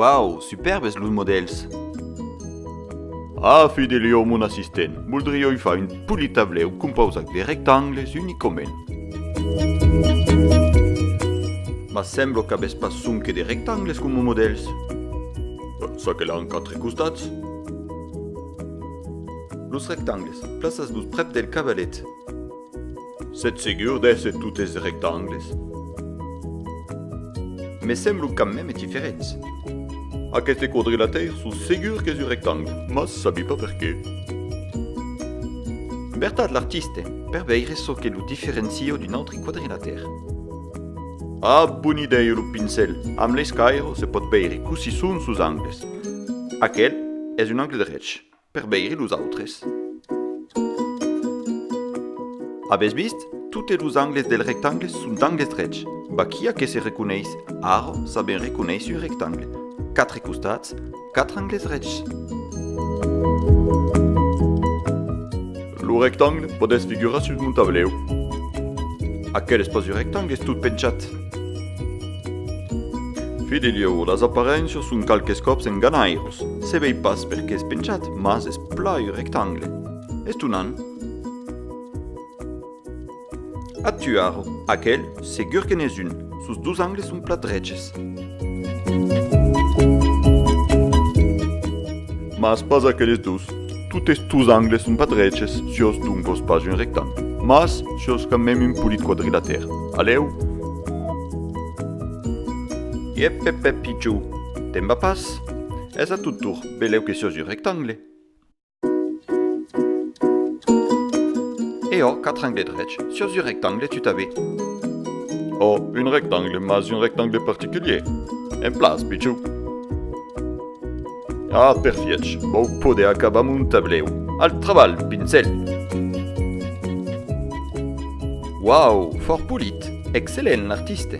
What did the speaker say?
Wow, superbes los modèls! Ah, Fidelio, mon assistent, voldrioi far un polit tablèu compausat de rectangles unicament. Mas semblo qu'avètz pas sonque de rectangles coma modèls. Ça que l'an quatre costats. Los rectangles, plaças-los prèp del cavalet. Sètz segur d'èsser totes de rectangles? Me semblo quand mème diferents. Aqueste quadrilataire sò segur qu'es un rectangle, mas sabi pas per qué. Vertat, l'artiste, per veire çò que lo diferencia d'un autre quadrilataire. A bon idèu lo pincèl amb l'escairo se pòt veire cossí son sos angles. Aquel es un angle drech, per veire los autres. Avètz vist? Totes los angles del rectangle son d'angles drechs. Vaquí a qué se reconeis, ara sabem reconéisser un rectangle, quatre costats, 4 angles rechs. Lo rectangle pòt èstre figurat sus mon tablèu. Aquel espaci rectangle es tot penchat. Fidelieu, las aparéncias son qualques còps enganhairós. Se vei pas per qué es penchat, mas es plai rectangle. Estonant! A Tuaro, aquel, segur que n'es un. Sos dos angles son plat dreches. Mas pas aqueles dos. Totes tos angles son pas dreches, siós doncos pas un rectangle. Mas siós quand mème un polit quadrilatèr. Alèu! Iep, ep, ep, pitjou! Temba pas! Es a tot tor, belèu que siós un rectangle. E ò, quatre angles drechs, sus un rectangle tout a bé. Ò, un rectangle, mas un rectangle particulier. En plan, pichon. Ah, perfièch, vau poder acabar mon tablèu. Al trabalh, pincèl! Uau, fòrt polit! Excellent, l'artiste!